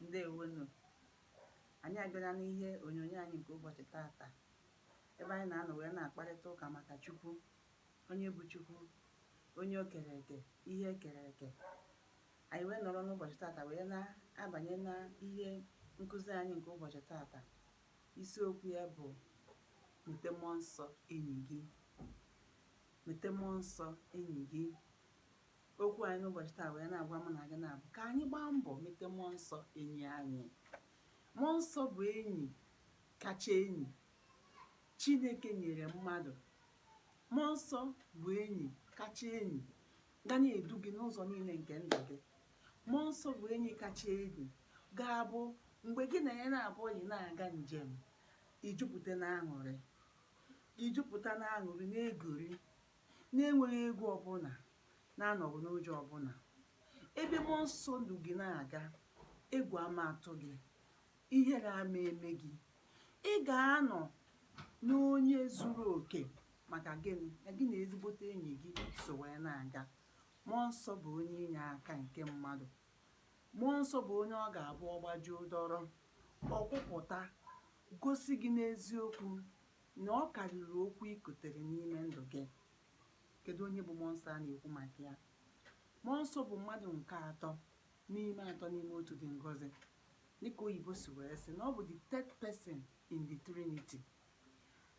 ndewonụ anyị abịala n'ihe onyonyo anyị nke ụbọchị tata ebe anyị na-anọ wee na-akparịta ụka maka Chukwu onye bụ Chukwu onye o kere eke ihe e kere eke anyị wee nọrọ n'ụbọchị tata wee na-abanye na ihe nkụzi anyị nke ụbọchị tata isiokwu ya bụ mete mmụọ nsọ enyi gị mete mmụọ nsọ enyi gị okwu anyị n'ụbọchị taa wee na-agwa mụ na gị na-abụ ka anyị gbaa mbọ mete mmụọ nsọ enyi anyị mmụọ nsọ bụ enyi kacha enyi chineke nyere mmadụ mmụọ nsọ bụ enyi kacha enyi ga na-edu gị n'ụzọ niile nke ndụ gị mmụọ nsọ bụ enyi kacha enyi ga-abụ mgbe gị na ya na-abụ ọyị na-aga njem i jupụta na aṅụrị i jupụta na aṅụrị na-egori na-enweghị egwu ọbụla, na-anọghị n'ụjọ ọbụla. Ebe Mmụọ Nsọ du gị na-aga, egwu ama atụ gị, ihere ama eme gị. Ị ga-anọ n'onye zuru oke. Maka gịnị? Na gị na ezigbote enyi gị so wee na-aga. Mmụọ Nsọ bụ onye inye aka nke mmadụ. Mmụọ Nsọ bụ onye ọ ga-abụ ọ gbajuo dọrọ, ọ kwụpụta, gosi gị n'eziokwu na ọ karịrị okwu i kotere n'ime ndụ gị. Kedụ onye bụ Mmụọ Nsọ a na-ekwu maka ya? Mmụọ Nsọ bụ mmadụ nke atọ n'ime atọ n'ime otu dị ngọzi. Dịka oyibo si wee sị na ọ bụ the third person in the Trinity.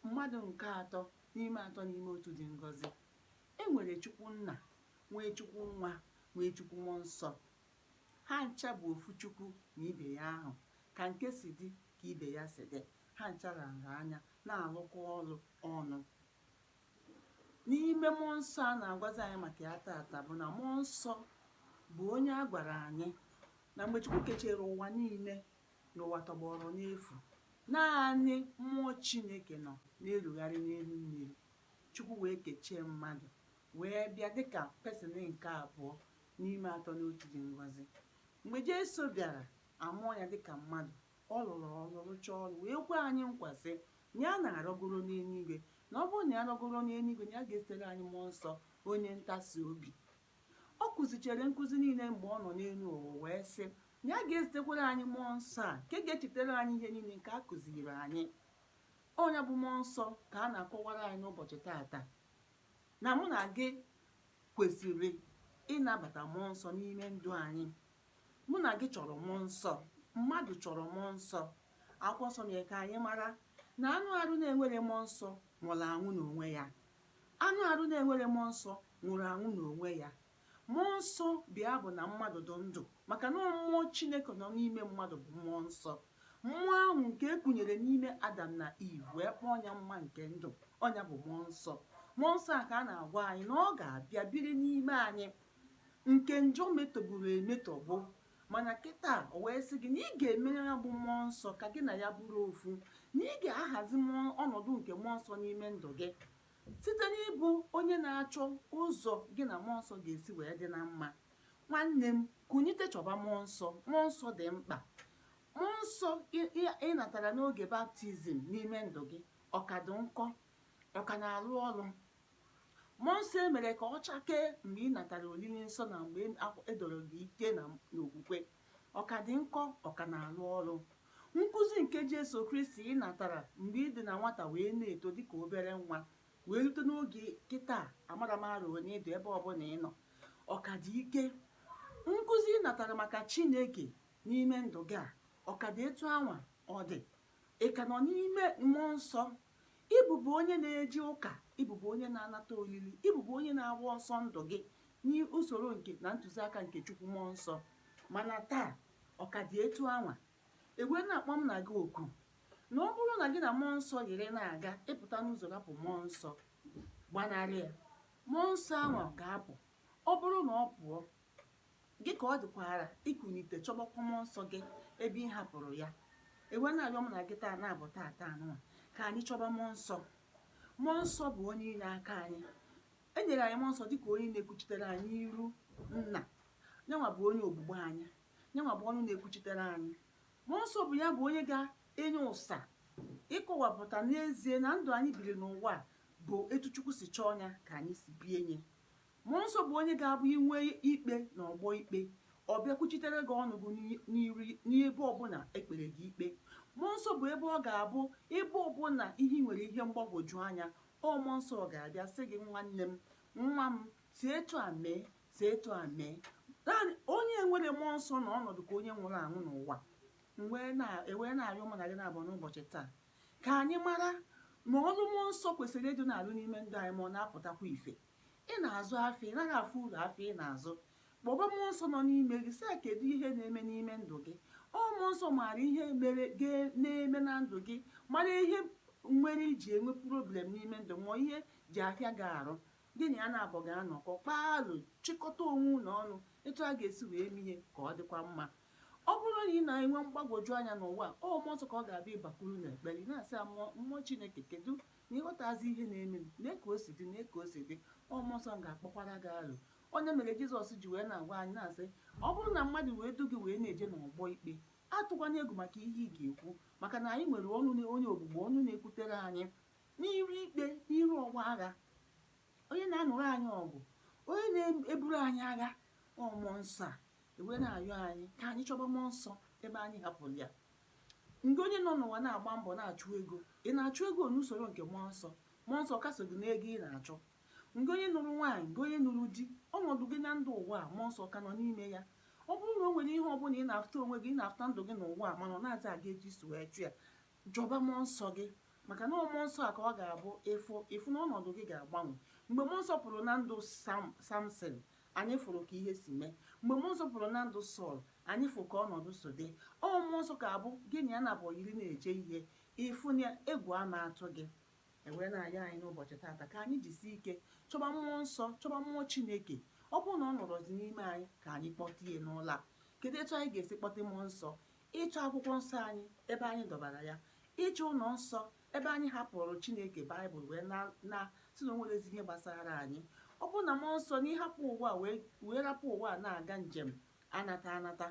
Mmadụ nke atọ n'ime atọ n'ime otu dị ngọzi. E nwere Chukwu Nna, nwee Chukwu Nwa, nwee Chukwu Mmụọ Nsọ. Ha ncha bụ ofu Chukwu na ibe ya ahụ, ka nke si dị ka ibe ya si dị, ha ncha ra nra anya, na-alụkọ ọrụ ọnụ. N'ime Mmụọ Nsọ a na-agwazi anyị maka ya taata bụ na Mmụọ Nsọ bụ onye a gwara anyị na mgbe Chukwu kechere ụwa niile na ụwa tọgbọrọ n'efu, naanị mmụọ Chineke nọ na-erugharị n'elu mmiri. Chukwu wee kechee mmadụ wee bịa dịka person nke abụọ n'ime atọ n'otu dị ngọzi mgbe Jesu bịara a mụọ ya dịka mmadụ ọ lụrụ ọrụ rụchaa ọrụ wee kwe anyị nkwa sị na ya na-arọgoro n'eluigwe na ọ bụrụ na ya rọgoro n'eluigwe na ya ga-ezitere anyị mmụọ nsọ onye ntasi obi ọ kụzichere nkụzi niile mgbe ọ nọ n'elu ụwa wee sị na ya ga-ezitekwara anyị mmụọ nsọ a nke ga-echetara anyị ihe niile nke a kụziri anyị ọ nya bụ mmụọ nsọ ka a na-akọwara anyị n'ụbọchị taata na mụ na gị kwesịrị ịnabata mmụọ nsọ n'ime ndụ anyị mụ na gị chọrọ mmụọ nsọ mmadụ chọrọ mmụọ nsọ akwụkwọ nsọ mere ka anyị mara na anụ arụ na-enwere mmụọ nsọ nwụrụ anwụ n'onwe ya anụ arụ na-enwere mmụọ nsọ nwụrụ anwụ n'onwe ya Mmụọ nsọ bụ ya bụ na mmadụ dị ndụ maka na mmụọ Chineke nọ n'ime mmadụ bụ mmụọ nsọ mmụọ ahụ nke e kunyere n'ime Adam na Iv wee kpọọ nya mma nke ndụ ọ nya bụ mmụọ nsọ mmụọ nsọ a ka a na-agwa anyị na ọ ga-abịa biri n'ime anyị nke njọ metọgburu emetọgbu mana kịta o wee sị gị na ị ga-emere ya bụ mmụọ nsọ ka gị na ya bụrụ ofu na ị ga-ahazi ọnọdụ nke mmụọ nsọ n'ime ndụ gị Site n'ịbụ onye na-achọ ụzọ gị na mmụọ nsọ ga-esi wee dị na mma, nwanne m, kunite chọba mmụọ nsọ. Mmụọ nsọ dị mkpa. Mmụọ nsọ ị natara n'oge baptizim n'ime ndụ gị ọ ka dị nkọ, ọ ka na-arụ ọrụ. Mmụọ nsọ e mere ka ọ chakee mgbe ị natara olili nsọ na mgbe e doro gị ike n'okwukwe ọ ka dị nkọ ọ ka na-arụ ọrụ nkụzi nke Jesu Kristi ị natara mgbe ị dị na nwata wee na-eto dịka obere nwa wee rute n'oge kịta amarọ m arọ one ị dụ ebe ọbụla ị nọ ọ ka dị ike nkụzi ị natara maka Chineke n'ime ndụ gị a ọ ka dị etu anwa ọ dị Ị ka nọ n'ime mmụọ nsọ? Ị bụbu onye na-eje ụka? Ị bụbu onye na-anata olili? Ị bụbu onye na-agba ọsọ ndụ gị n'usoro nke na ntụziaka nke Chukwu mmụọ nsọ? Mana taa, ọ ka dị etu anwa. E wee na-akpọ m na gị oku na ọ bụrụ na gị na mmụọ nsọ yiri na-aga, ị pụta n'ụzọ rapụ mmụọ nsọ, gbanarị ya. Mmụọ nsọ anwa ga-apụ. Ọ bụrụ na ọ pụọ, Gị ka ọ dịkwaara ikunite chọbakwa mmụọ nsọ gị ebe ị hapụrụ ya. E wee na-arịọ m na gị taa na-abụ taa taa nụwa ka anyị chọba mmụọ nsọ. Mmụọ nsọ bụ onye inye aka anyị. E nyere anyị mmụọ nsọ dịka onye na-ekwuchitere anyị n'iru nna. Nyanwa bụ onye ogbugbo anyị. Nyanwa bụ ọnụ na-ekwuchitere anyị. Mmụọ nsọ bụ ya bụ onye ga-enye ụsa ịkọwapụta n'ezie na ndụ anyị biri n'ụwa bụ etu Chukwu si chọọ nya ka anyị si bie nya. Mmụọ Nsọ bụ onye ga-abụ i nwee ikpe n'ọgbọ ikpe, ọ bịa kwuchitere gị ọnụ gị n'ebe ọbụla e kpere gị ikpe. Mmụọ Nsọ bụ ebe ọ ga-abụ ebe ọbụla ihe i nwere ihe mgbagwoju anya, ọ Mmụọ Nsọ ga-abịa sị gị, nwanne m, nwa m, si etu a mee, si etu a mee. Onye nwerọ Mmụọ Nsọ na-anọdụ ka onye nwụrụ anwụ n'ụwa. E wee na-arịọ mụ na gị naabọ n'ụbọchị taa ka anyị mara na ọrụ Mmụọ Nsọ kwesịrị ịdị na-arụ n'ime ndụ anyị ma ọ na-apụtakwa ife. ị na-azụ afịa ị naghị afụ uru afịa ị na-azụ kpọba mmụọ nsọ nọ n'ime gị sị ya kedu ihe na-eme n'ime ndụ gị ọ mmụọ nsọ maara ihe mere na-eme na ndụ gị mara ihe mere i ji enwe problem n'ime ndụ ma ihe ji ahịa gị arụ gị na ya naabọ ga-anọkọ kpaa alo chịkọta onwe unu ọnụ etu a ga-esi wee mee ihe ka ọ dịkwa mma ọ bụrụ na ị na-enwe mgbagwoju anya n'ụwa ọ mmụọ nsọ ka ọ ga-abụ ị bakwuru n'ekpere ị na-asị ya mmụọ mmụọ chineke kedu na ị ghọtazi ihe na-emenụ nee ka o si dị nee ka o si dị ọ mmụọ nsọ ga-akpọkwara gị aro onye mere jizọs ji wee na-agwa anyị na-asị ọ bụrụ na mmadụ wee du gị wee na-eje n'ọgbọ ikpe atụkwanye egwu maka ihe ị ga-ekwu maka na anyị nwere ọnụ na onye ogbugbo ọnụ na-ekwutere anyị n'iru ikpe n'iru ọgbọ agha onye na-anụrụ anyị ọgụ onye na-eburu anyị agha ọ mmụọ nsọ e wee na-ayọ anyị ka anyị chọba mmụọ nsọ ebe anyị hapụrụ ya Ngị onye nọ n'ụwa na-agba mbọ na-achụ ego, ị na-achụ ego n'usoro nke Mmụọ Nsọ? Mmụọ Nsọ ọ ka so gị n'ego ị na-achụ? Ngị onye nụrụ nwaanyị, ngị onye nụrụ di, ọnọdụ gị na ndụ ụwa a, Mmụọ Nsọ ọ ka nọ n'ime ya? Ọ bụrụ na o nwere ihe ọbụla ị na-afụta onwe gị, ị na-afụta ndụ gị n'ụwa a mana ọ narọzi aga etu i si wee chọọ ya, chọba Mmụọ Nsọ gị maka na ọ Mmụọ Nsọ a ka ọ ga-abụ ị fụ ị fụ na ọnọdụ gị ga-agbanwe. Mgbe Mmụọ Nsọ pụrụ na ndụ Sam Samson, Anyị fụrụ ka ihe si mee. Mgbe mmụọ nsọ pụrụ na ndụ Sọl, anyị fụ ka ọnọdụ si dị. Ọ mmụọ nsọ ka abụ gị na ya nabọ yiri na-eje ihe, ị fụ na egwu ama atụ gị. E wee na-ayọ anyị n'ụbọchị tata ka anyị jisie ike chọba mmụọ nsọ, chọba mmụọ Chineke. Ọ bụrụ na ọ nọrọzi n'ime anyị, ka anyị kpọta ya n'ụla. Kedu etu anyị ga-esi kpọta mmụọ nsọ? Ịchọ akwụkwọ nsọ anyị ebe anyị dọbara ya, ịchọ ụnọ nsọ Ebe anyị hapụrụ Chineke, Baịbụl wee na na-asị na o nwerezi ihe gbasara anyị. Ọ bụrụ na mmụọ nsọ na ị hapụ ụwa a wee wee rapụ ụwa a na-aga njem anata anata,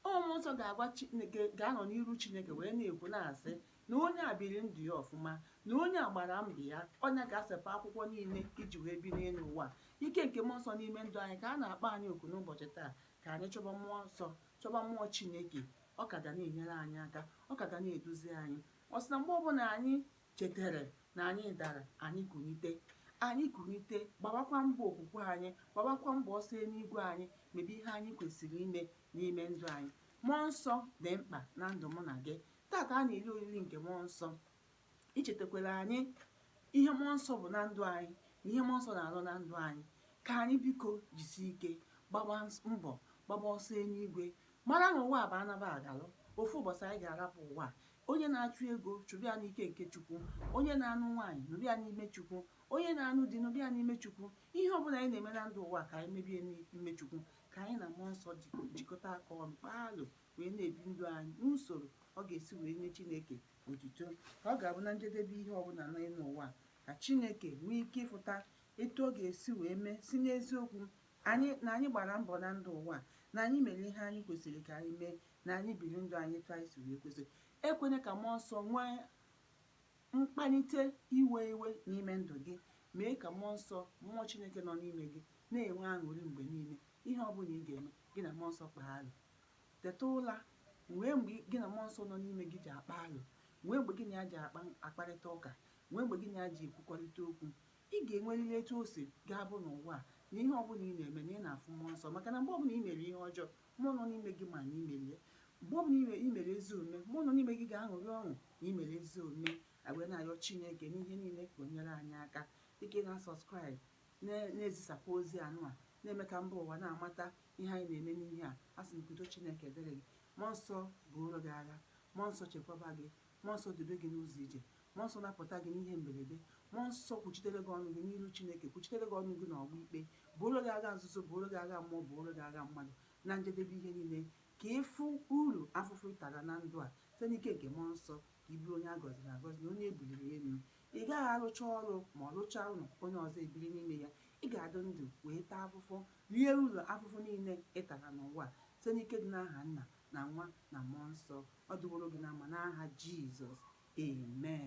ọ mmụọ nsọ ga-agwa Chi- ga- ga-anọ n'iru Chineke wee na-ekwu na-asị na onye a biri ndụ ya ọfụma, na onye a gbara mbọ ya, onye ga-asepụ akwụkwọ niile i ji wee bi n'elu ụwa. Ike nke mmụọ nsọ n'ime ndụ anyị ka a na-akpọ anyị oku n'ụbọchị taa ka anyị chọba mmụọ nsọ, chọba mmụọ Chineke. Ọ ka ga na-enyere anyị aka, ọ ka ga na-eduzi anyị. Ọ sị na mgbe ọbụla anyị chetere na anyị dara, anyị kunite. Anyị kunite, gbabakwa mbọ okwukwe anyị, gbabakwa mbọ ọsọ eluigwe anyị, mebe ihe anyị kwesịrị ime n'ime ndụ anyị. Mmụọ nsọ dị mkpa na ndụ mụ na gị. Tata a na-eri oriri nke mmụọ nsọ. Ichetakwara anyị ihe mmụọ nsọ bụ na ndụ anyị na ihe mmụọ nsọ na-alụ na ndụ anyị. Ka anyị biko jisie ike, gbaba mbọ, gbaba ọsọ eluigwe, Mara na ụwa a bụ anaba agalụ. Ofu ụbọchị anyị ga-arapụ ụwa a. Onye na-achụ ego, chụba ya n'ike nke Chukwu. Onye na-anụ nwaanyị, nụba ya n'ime Chukwu. Onye na-anụ di, nụba ya n'ime Chukwu. Ihe ọ bụla anyị na-eme na ndụ ụwa a ka anyị mebe ya n'ime Chukwu. Ka anyị na Mmụọ Nsọ jikọta aka ọnụ, kpaa alo, wee na-ebi ndụ anyị n'usoro ọ ga-esi wee nye Chineke otito. Ka ọ ga-abụ na njedebe ihe ọbụla n'elu ụwa a, ka Chineke nwee ike ịfụta etu ọ ga-esi wee mee sị n'eziokwu Na anyị gbara mbọ na ndụ ụwa a, na anyị mere ihe anyị kwesịrị ka anyị mee, na anyị biri ndụ anyị etu anyị si wee kwesị. Ekwene ka Mmụọ Nsọ nwee mkpalite iwe iwe n'ime ndụ gị. Mee ka Mmụọ Nsọ, Mmụọ Chineke nọ n'ime gị, na-enwe aṅụrị mgbe niile. Ihe ọ bụla ị ga-eme, gị na Mmụọ Nsọ kpaa alo. Teta ụla, nwee mgbe gị na Mmụọ Nsọ nọ n'ime gị ji akpa alo, nwee mgbe gị na ya ji akpa, akparịta ụka, nwee mgbe gị na ya ji ekwukọrịta okwu, Ị ga-enwerịrị etu o si ga-abụ n'ụwa a na ihe ọbụla ị na-eme na ị na-afụ mmụọ nsọ maka na mgbe ọbụla i mere ihe ọjọọ, mmụọ nọ n'ime gị ma na i mere ya. Mgbe ọbụla i mere ezi omume, mmụọ nọ n'ime gị ga-aṅụrị ọṅụ na i mere ezi omume. Wee na-ayọ Chineke n'ihe niile ka o nyere anyị aka dịka ị na-asubscribe na-ezisapụ ozi anụ a na-eme ka mba ụwa na-amata ihe anyị na-eme n'ihe a a sị m ka udo Chineke dịrị gị mmụọ nsọ buoro gị agha mmụọ nsọ chekwaba gị mmụọ nsọ dube gị n'ụzọ ije Mmụọ Nsọ napụta gị n'ihe mberede. Mmụọ Nsọ kwuchitere gị ọnụ gị n'iru Chineke, kwuchitere gị ọnụ gị n'ọgba ikpe, buoro gị agha nzuzo, buoro gị agha mmụọ, buoro gị agha mmadụ, na njedebe ihe niile, ka ị fụ ulu afụfụ ị tara na ndụ a. Site n'ike nke Mmụọ Nsọ, ka ị bụrụ onye a gọziri agọzi na onye e buliri elu. Ị gaghị arụcha ọrụ ma ọ rụchaa ụlọ, onye ọzọ ebiri n'ime ya. Ị ga-adị ndụ wee taa afụfụ, rie ulu afụfụ niile ị tara n'ụwa a, site n'ike dị n'aha Nna, na Nwa, na Mmụọ Nsọ. Ọ dịworo gị na mma n'aha Jizọs. Amen.